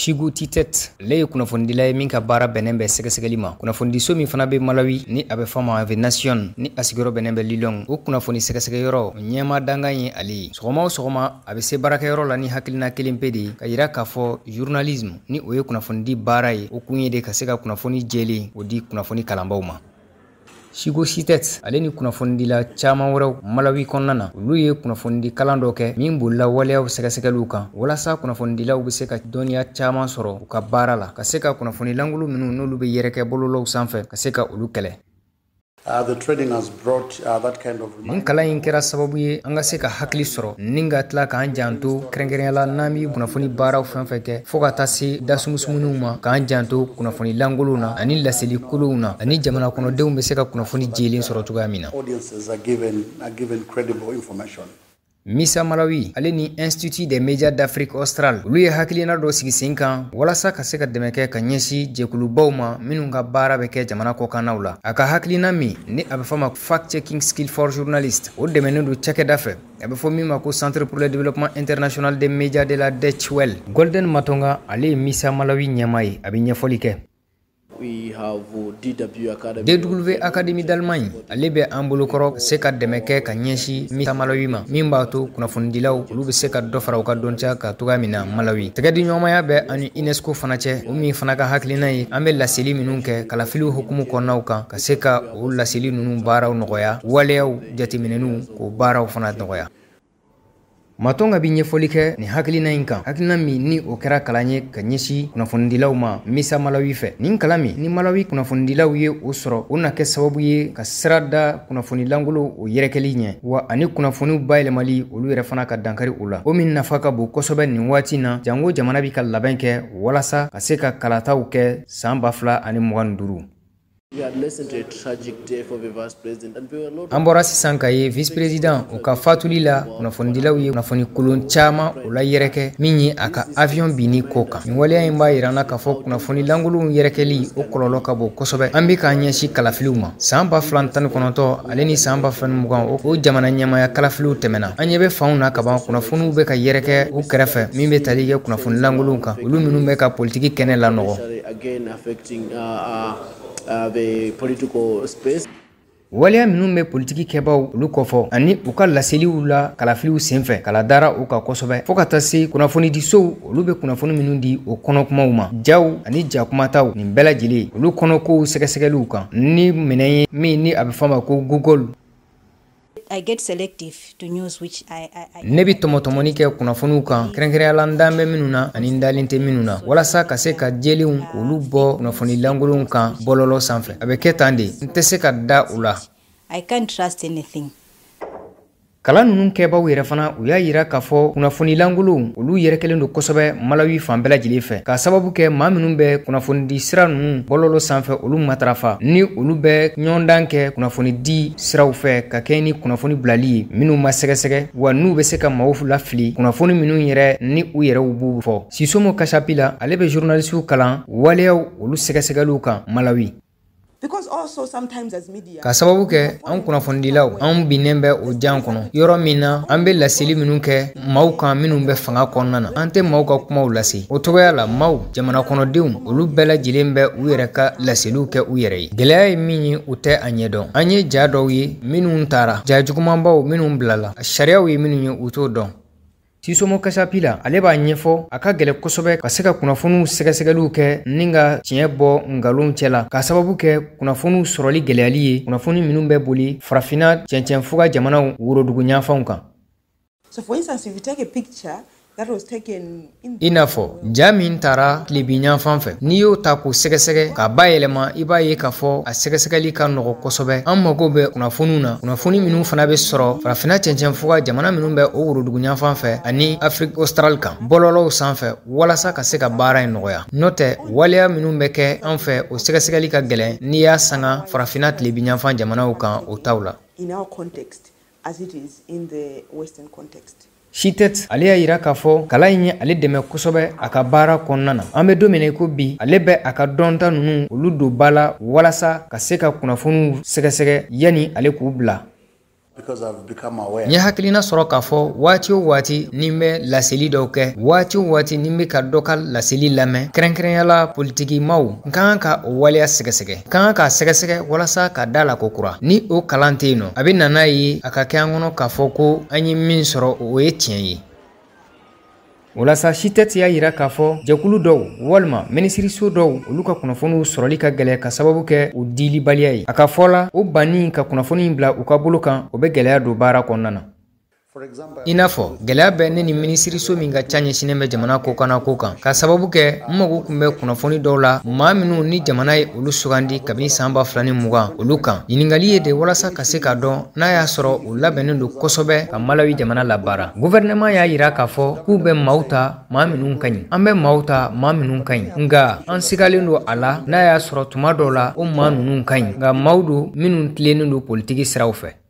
Suzgo Chitete ale ye kunnafonidila ye min ka baara bɛnnen bɛ sɛgɛsɛgɛli ma kunnafonidiso min fana bɛ Malawi ni a bɛ fɔ ma The Nation ni a sigiyɔrɔ bɛnnen bɛ Lilongwe o kunnafoni sɛgɛsɛgɛyɔrɔ ɲɛma dankan ye ale ye sɔgɔma o sɔgɔma a bɛ se baarakɛyɔrɔ la ni hakilina kelen pe de ye ka yira k'a fɔ journalisme ni o ye kunnafonidi baara ye o kun ye de ka se ka kunnafoni jɛlen o di kunnafoni kalanbaaw ma Suzgo Chitete ale ni kunnafonidila caaman wɛrɛw Malawi kɔnɔna na olu ye kunnafonidi kalan dɔ kɛ min bolila waleyaw sɛgɛsɛgɛliw kan walasa kunnafonidilaw be se ka dɔnniya caaman sɔrɔ u ka baara la ka se ka kunnafoni lankolon minw n'olu be yɛrɛkɛ bɔlɔlɔw sanfɛ ka se ka olu kɛlɛ Uh, the training has brought uh, that kind of nin kalan in kɛra sababu ye an ka se ka hakili sɔrɔ ni ka tila k'an janto kɛrɛnkɛrɛnya la n'an bɛ kunnafoni baaraw fɛn fɛn kɛ fɔɔ ka taa se dasumusumuniw ma k'an janto kunnafoni lankolonw na ani laseli kolonw na ani jamana kɔnɔdenw bɛ se ka kunnafoni jɛlen sɔrɔ cogoya min na Misa Malawi ale ni Institut des Médias d'Afrique Australe olu ye hakilina dɔ sigi sen kan walasa ka se ka dɛmɛ kɛ ka ɲɛsin jɛkulubaw ma minnu ka baara bɛ kɛ jamana kɔkannaw la a ka hakilina min ni a bɛ fɔ ma ko fact checking skill for journalist o dɛmɛnen don cakɛda fɛ a bɛ fɔ min ma ko centre pour le développement international des médias de la Deutsche Welle Golden Matonga ale ye Misa Malawi ɲɛma ye a bɛ ɲɛfɔli kɛ DW Akademie d'Allemagne ale bɛ an bolokɔrɔ ka se ka dɛmɛ kɛ ka ɲɛsin Misa Malawi ma min b'a to kunnafonidilaw olu bɛ se ka dɔ fara u ka dɔnniya kan cogoya min na Malawi tɛgɛdiɲɔgɔnmaya bɛ an ni UNESCO fana cɛ o min fana ka hakilina ye an bɛ laseli minnu kɛ kalafiliw hukumu kɔnɔnaw kan ka se ka o laseli ninnu baaraw nɔgɔya waleyaw jateminɛniw k'o baaraw fana nɔgɔya Matonga bi ɲɛfɔli kɛ nin hakilina in kan hakilina min ni o kɛra kalan ye ka ɲɛsin kunnafonidilaw ma Misa Malawi fɛ nin kalan min ni Malawi kunnafonidilaw ye o sɔrɔ o na kɛ sababu ye ka sira da kunnafoni lankolon o yɛrɛkɛli ɲɛ wa ani kunnafoniw bayɛlɛmali olu yɛrɛ fana ka dankari o la o min nafa ka bon kosɛbɛ nin waati na janko jamana bi ka labɛn kɛ walasa ka se ka kalataw kɛ san ba fila ani mugan ni duuru An bɔra sisan ka ye vice president o ka faatuli la kunnafonidilaw ye kunnafoni kolon caman o layɛrɛkɛ min ye a ka avion binni ko kan nin waleya in b'a yira an na k'a fɔ kunnafoni lankolonw yɛrɛkɛli o kɔlɔlɔ ka bon kosɛbɛ an bɛ k'an ɲɛsin kalafiliw ma san ba fila tan ni kɔnɔntɔ ale ni san ba fila ni mugan o jamana ɲɛmaya kalafiliw tɛmɛna an ɲɛ bɛ fanw na kaban kunnafoniw bɛ ka yɛrɛkɛ u kɛrɛfɛ min bɛ tali kɛ kunnafoni lankolonw kan olu minnu bɛ ka politiki kɛnɛ lanɔgɔ Affecting, uh, uh, the political space. waleya minnu bɛ politiki kɛbaaw olu kɔfɔ ani u ka laseliw la kalafiliw senfɛ kala dara u kan kosɛbɛ fɔɔ ka taa se kunnafonidisow olu bɛ kunnafoni minnu di o kɔnɔkumaw ma jaw ani jakumataw nin bɛɛ lajɛlen olu kɔnɔkow sɛgɛsɛgɛliw kan ni minɛn ye min ni a bɛ fɔ ma ko Google I get selective to news which I, I, I... ne bɛ tɔmɔtɔmɔni kɛ kunnafoniw kan kɛrɛnkɛrɛnya la n dalen bɛ minnu na ani n dalen tɛ minnu na walasa ka se ka jɛlenw k'olu bɔ kunnafoni lankolonw kan bɔlɔlɔ sanfɛ a bɛ kɛ tan de n tɛ se ka da u la I can't trust anything kalan ninnu kɛbaaw yɛrɛ fana u y'a yira k'a fɔ kunnafoni lankolonw olu yɛrɛkɛlen don kosɛbɛ malawi fan bɛɛ lajɛlen fɛ k'a sababu kɛ maa minnu bɛ kunnafonidi sira ninnu bɔlɔlɔ sanfɛ olu matarafa ni olu bɛ ɲɔgɔndan kɛ kunnafonidi siraw fɛ ka kɛɲɛ ni kunnafoni bilali ye minnu ma sɛgɛsɛgɛ wa n'u bɛ se ka maaw lafili kunnafoni minnu yɛrɛ ni u yɛrɛw b'u fɔ sisomo kasapila ale bɛ journalisiw kalan waleyaw olu sɛgɛsɛgɛliw kan malawi k'a sababu kɛ an kunnafonidilaw an binnen bɛ o jan kɔnɔ yɔrɔ min na an bɛ laseli minnu kɛ maaw kan minnu bɛ fanga kɔnɔna na an tɛ maaw ka kumaw lase o cogoya la maaw jamana kɔnɔdenw olu bɛɛ lajɛlen bɛ u yɛrɛ ka laseliw kɛ u yɛrɛ ye gɛlɛya ye min ye u tɛ a ɲɛdɔn an ye ja dɔw ye minnu tara ja jugumanbaw minnu bilala sariyaw ye minnu ye u t'o dɔn sisomo kasapila ale b'a ɲɛfɔ a ka gɛlɛ kosɛbɛ ka se ka kunnafoniw sɛgɛsɛgɛliw kɛ ni ka tiɲɛ bɔ nkalonw cɛ la k'a sababu kɛ kunnafoniw sɔrɔli gɛlɛyali ye kunnafoni minnu bɛ boli farafina cɛncɛn fuga jamanaw worodugu ɲanfanw kan So for instance, if you take a picture i n'a fɔ ja min tara tilebinyanfan fɛ n'i y'o ta k'o sɛgɛsɛgɛ k'a bayɛlɛma i b'a ye k'a fɔ a sɛgɛsɛgɛli ka nɔgɔ kosɛbɛ an mago bɛ kunnafoniw na kunnafoni minnu fana bɛ sɔrɔ farafina cɛncɛn fuga jamana minnu bɛ o worodugu ɲanfan fɛ ani Afrique australe kan bɔlɔlɔw sanfɛ walasa ka se ka baara in nɔgɔya n'o tɛ waleya minnu bɛ kɛ an fɛ o sɛgɛsɛgɛli ka gɛlɛn n'i y'a sanga farafina tilebinyanfan jamanaw kan o taw la as it is in the Western context. Shitet ale y'a yira k'a fɔ kalan in ye ale dɛmɛ kosɛbɛ a ka baara kɔnɔna na an bɛ don min na i ko bi ale bɛ a ka dɔnta ninnu olu don ba la walasa ka se ka kunnafoniw sɛgɛsɛgɛ yanni ale k'u bila n ye hakilina sɔrɔ k'a fɔ waati o waati ni n bɛ laseli dɔw kɛ waati o waati ni n bɛ ka dɔ ka laseli lamɛn kɛrɛnkɛrɛnyala politikimaw n ka kan ka o waleya sɛgɛsɛgɛ n ka kan k'a sɛgɛsɛgɛ walasa ka da a la kokura ni o kalan tɛ yen nɔ a bɛ na n'a ye a ka kɛ an kɔnɔ k'a fɔ ko an ye min sɔrɔ o ye tiɲɛ ye o la sa Shitet y'a yira k'a fɔ jɛkulu dɔw walima minisiriso dɔw olu ka kunnafoniw sɔrɔli ka gɛlɛ k'a sababu kɛ u dilibaliya ye a ka fɔ la o banni ka kunnafoni bila u ka bolo kan o bɛ gɛlɛya don baara kɔnɔna na i n'a fɔ gɛlɛya bɛ ne ni minisiriso min ka ca ɲɛsinnen bɛ jamana kɔkanna ko kan k'a sababu kɛ n mago kun bɛ kunnafoni dɔw la maa minnu ni jamana ye olu sugandi kabini san ba fila ni mugan olu kan ɲininkali ye de walasa ka se k'a dɔn n'a y'a sɔrɔ u labɛnnen don kosɛbɛ ka malawi jamana labaara guvɛrɛnɛman y'a yira k'a fɔ k'u bɛ maaw ta maa minnu ka ɲi an bɛ maaw ta maa minnu ka ɲi nka an sigalen don a la n'a y'a sɔrɔ tuma dɔw la o maa ninnu ka ɲi nka maaw don minnu tilennen don politiki siraw fɛ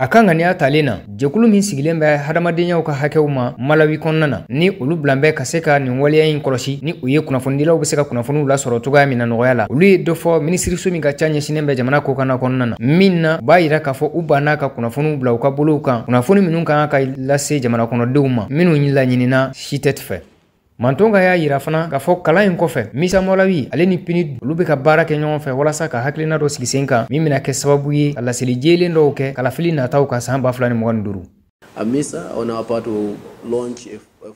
A ka ŋaniya talen na jɛkulu min sigilen bɛ hadamadenyaw ka hakɛw ma malawi kɔnɔna na ni olu bilan bɛ ka se ka nin waleya in kɔlɔsi ni u ye kunnafonidilaw bɛ se ka kunnafoniw lasɔrɔ cogoya min na nɔgɔya la olu ye dɔ fɔ minisiriso min ka ca ɲɛsinnen bɛ jamana kɔkanna kɔnɔna na min na b'a yira k'a fɔ u banna ka kunnafoniw bila u ka bolow kan kunnafoni minnu kan ka lase jamana kɔnɔdenw ma minnu laɲinina sitɛti fɛ Matonga y'a yira fana k'a fɔ kalan in kɔfɛ MISA Malawi ale ni PNUD olu bɛ ka baara kɛ ɲɔgɔn fɛ walasa ka hakilina dɔ sigi sen kan min bɛna kɛ sababu ye ka laseli jɛlen dɔw kɛ kalafili nataw ka san ba fila ni mugan ni duuru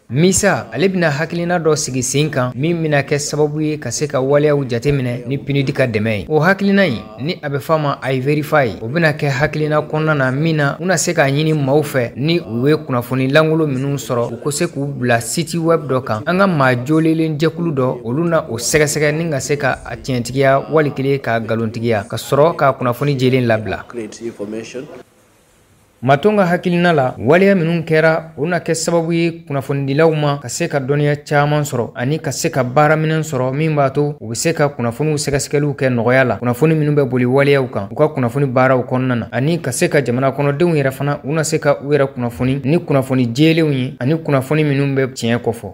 MISA ale bɛna hakilina dɔ sigi sen kan min bɛna kɛ sababu ye ka se ka waleyaw jateminɛ ni PNUD ka dɛmɛ ye o hakilina in ni a bɛ f'a ma iVerify o bɛna kɛ hakilina kɔnɔna na min na u na se k'a ɲini maaw fɛ ni u ye kunnafoni lankolon minnu sɔrɔ u ko se k'u bila siti wɛb dɔ kan an ka maa jolelen jɛkulu dɔ olu na o sɛgɛsɛgɛ ni ka se ka a tiɲɛtigiya wali kelen k'a galontigiya ka sɔrɔ ka kunnafoni jɛlen labila Matonga hakilina la waleya minnu kɛra o na kɛ sababu ye kunnafonidilaw ma ka se ka dɔnniya caman sɔrɔ ani ka se ka baaraminɛn sɔrɔ min b'a to u bɛ se ka kunnafoniw sɛgɛsɛgɛliw kɛ nɔgɔya la kunnafoni minnu bɛ boli waleyaw kan u ka kunnafoni baaraw kɔnɔna na ani ka se ka jamana kɔnɔdenw yɛrɛ fana u na se ka u yɛrɛ kunnafoni ni kunnafoni jɛlenw ye ani kunnafoni minnu bɛ tiɲɛ kɔfɔ